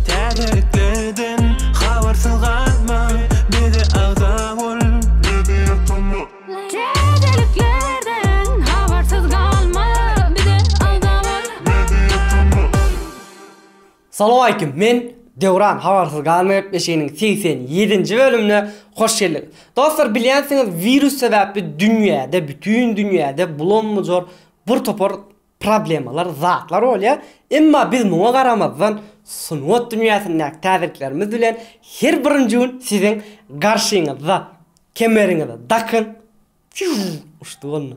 Täzeliklerden habarsyz galma, bize agza bol. Täzeliklerden habarsyz galma, bize agza bol. Salowaleýkim, men Döwran habarsyz galma gepleşiginiň segsen ýedinji bölümine hoş geldiňiz. Dostlar bilýänsiňiz wirus sebäpli dünýäde bütin dünýäde bulam-bujur bir topar problemalar, zatlar bolýar. Emma biz muňa garamazdan, sungat dünýäsindäki täzeliklerimiz bilen her birinji gün siziň garşyňyzda. Kemeriňize dakyň! Fiuu! Uçdy boldy.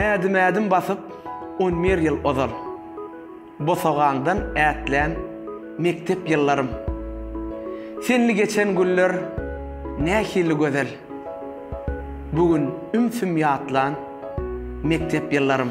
Ädim-ädim basyp on bir ýyl ozal, Bosagaňdan ätlän mekdep ýyllarym. Senli geçen günler nähili gözel, Bu gün ümsüm ýatlan mekdep ýyllarym.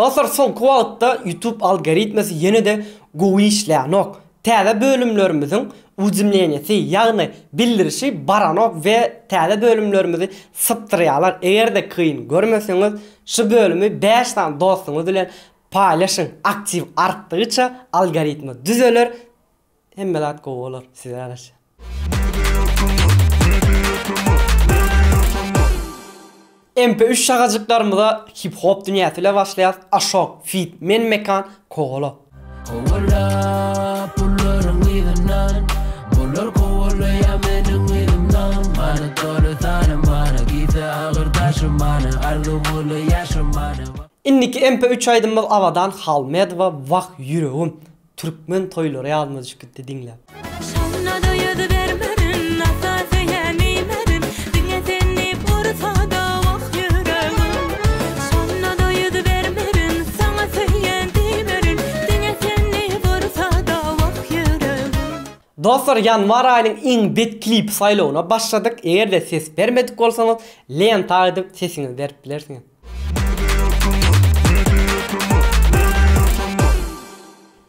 Dostlar soňky wagtda YouTube algoritmesi ýene-de gowy işleýänok. Täze bölümlerimiziň ujemleniýesi ýagny bildirişi baranok we täze bölümlerimizi sypdyrýarlar. Eger-de kyn görmeseňiz şu bölümi bäş sany dostuňyz bilen Paýlaşyň aktiw artdygyça algoritma düzeler hemme zat gowy bolar size ýaraşýar. MP üç şagajyklarymyza hip hop dünýäsi ile başlaýas Ashok feat Men Mekan Kowala. Kowala pullaryň yzyndan Bular kowalaýar meniň yzymdan Many doly sanymany Gitse agyr daşymany Arzuwly ýaşamany. Indiki MP üç aýdymymyz Abadan Halmedowa Wah ýüregim Türkmen toýlary ýadyma düşüp gitdi diňläp. Şonada ýüz bermerin Ata söýen iýmerin Diňe sen diýip ursada Wah ýüregim Şonada ýüz bermerin Saňa söýen diýmerin Diňe sen diýip ursada Wah ýüregim. Dostlar ýanwar aýynyň iň bet klipi saýlawyna başladyk, eger-de ses bermedik bolsaňyz lenta aýdyp sesiňizi berip bilersiňiz.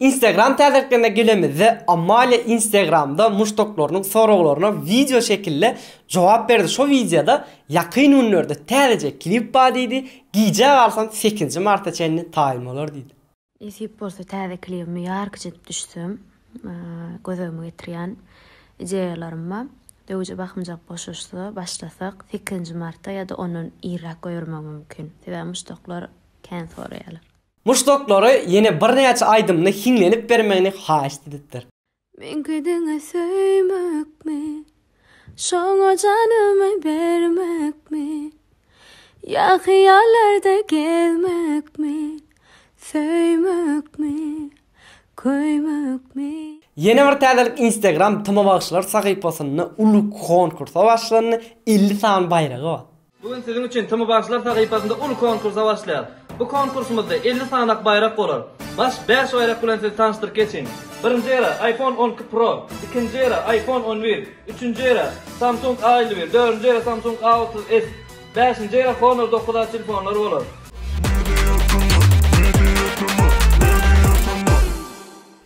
Instagram täzeliklerine gelemizde, Amalia Instagramda muşdaklarynyň soraglaryna wideo şekilde jogap berdi. Şo wideoda ýakyn günlerde täzeje klip bar diýdi, gijä galsam sekizinji marta çenli taýyn bolar diýdi. Nesip bolsa täze klibimi ýarkyç edip düşsem gözegime getirýän ideýalaryma döwje bakymjak boşaşsa başlasak sekizinji marta ýa-da ondan irräk goýbermegim mümkin. Sebäbi muşdaklar kän soraýarlar. Muşdaklary ýene birnäçe aýdymyny hiňlenip bermegini haýyşt edipdir. Meňki diňe söýmekmi, Şoňa janymy bermekmi, Ýa hyýallarda gezmekmi, Söýmekmi, köýmekmi. Ýene bir täzelik Instagram Tyma bagşylar sahypasynda uly konkursa başlandy, elli sany baýragy bar. Bu gün siziň üçin TMBaşlar sahypasynda uly konkursa başlaýar. Bu konkursymyzda elli sanak baýrak bolar. Baş bäş baýrak bilen sizi tanyşdyryp geçiň. Birinji ýere iPhone on iki Pro, ikinji ýere iPhone on bir, üçünji ýere Samsung A elli bir, dördünji ýere Samsung A otuz S, bäşinji ýere Honor dokuz A telefonlary bolar.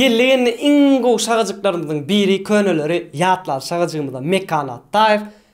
Geldi-geldi iň gowy şagajyklarymyzyň biri köneleri ýatlady şagajygymyza Mekan Atdaýew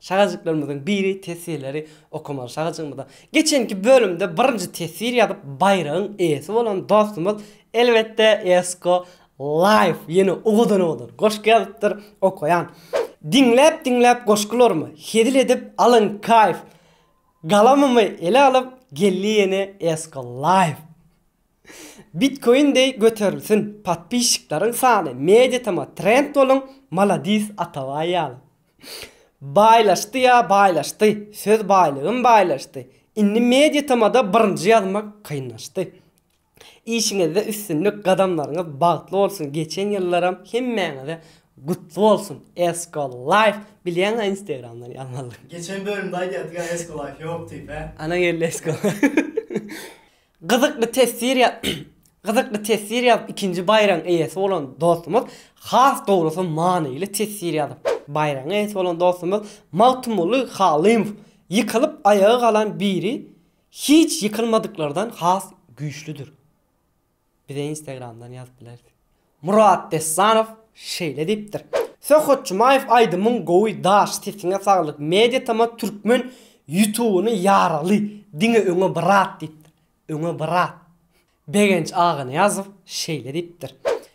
Şagajyklarymyzyň biri teswirleri okamaly şagajygymyza. Geçenki bölümde birinji teswir ýazyp baýragyň eýesi bolan dostumyz elbetde Esko Life ýene owadan-owadan goşgy ýazypdyr. Okaýan. Diňläp-diňläp goşgularymy, hezil edip alyň kaýf! Galamymy ele alyp geldi ýene Esko Life. Bitkoin deý göterilsin podpisçikleriň sany mediatama trend boluň maladis Atabaý ýaly. Baýlaşdy ýa baýlaşdy söz baýlygym baýlaşdy indi mediatamada birinji ýazmak kynlaşdy. Işiňizde üstünlik gadamlaryňyz bagtly bolsun geçen ýyllaram hemmäňize gutly bolsun Eskolife bilýäňä instagramdan ýazmalydygyňy. Geçen bölümde aýdýardyk ýa Eskolife ýok diýip hä. Ana geldi Eskolife. Gyzykly teswir ýa Gyzykly teswir ýazyp ikinji baýragyň eýesi bolan dostumyz has dogrusy manyly teswir ýazyp baýragyň eýesi bolan dostumyz Magtymguly Halymow ýykylyp aýaga galan biri hiç ýykylmadyklardan has güýçlüdir bize instagramdan ýazyp bilersiň Murat Dessanow şeýle diýipdir, Söhbet Jumaýew aýdymyň gowy daş sesiňe saglyk media tama türkmen ýutubyny ýaragly diňe öňe brat diýipdir öňe brat Begenç Aganyýazow şeýle diýipdir,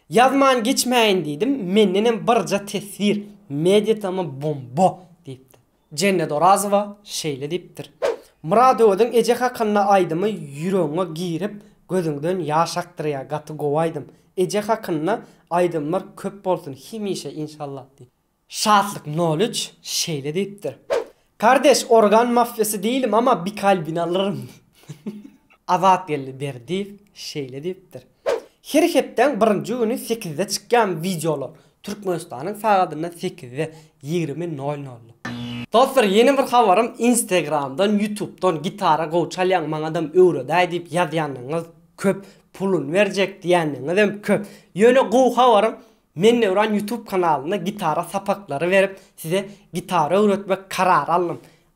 Ýazman geçmäýin diýdim mendenem birja teswir media tama bomba diýipdir. Jennet Orazowa şeýle diýipdir, Myradoweziň eje hakynda aýdymy ýüregiňe girip, gözüňden ýaş akdyrýar, gaty gowy aýdym. Eje hakynda aýdymlar köp bolsun hemişe inşallah diýip. Şatlyk nol üç şeýle diýipdir, Kardeş organ mafýasy diýilim ama bir kalbini alyryn. Azatgeldi Berdiýew şeýle diýipdir, Her hepdäň birinji güni sekizde çykýan wideolar Türkmenistanyň sagadynda sekizde, ýigrimi nol nol. Dostlar ýene bir habarym instegramdan ýutubdan gitara gowy çalýaň maňadam öwredäý diýip ýazýandygyňyz köp puluny berjek diýändigiňizem köp ýöne gowy habarym men Döwran ýutub kanalynda gitara sapaklary berip size gitara öwretmek karary aldym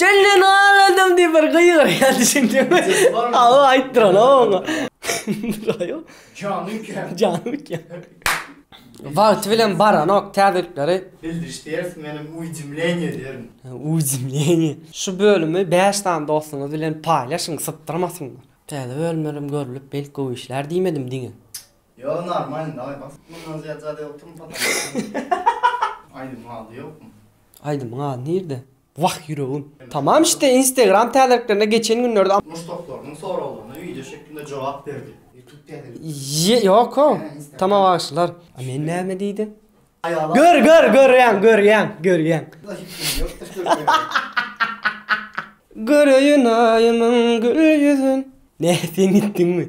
Jelle nal adam diýip bir gygyrýar düşündiňmi? Aw aýtdyran aw oňa. Aýo. Jany üýtgär. Jany üýtgär. Wagty bilen baranok täzelikleri. Bildiriş ders menem uýjimleniýe derin. Uýjimleniýe. Şu bölümi bäş sany dostuňyz bilen paýlaşyň sypdyrmasynlar. Täze bölümlerem görülip belki gowy işlär diýmedim diňe. Ýok normalny dagay bas. Mundan zyýat zat ýokdurmy pataşka. Aýdymyň ady ýokmy? Aýdymyň ady nirde? Wah ýüregim. Tamam işte instagram täzeliklerine geçen günlerde am. Muşdaklarynyň soraglaryna wideo şeklinde jogap berdi. Youtube täzelikleri. Ýoko. Tamam bagşylar. A men näme diýdim. Gör gör görýäň görýäň görýäň. Göreýin aýymyň gül ýüzün. Nä sen gitdiňmi.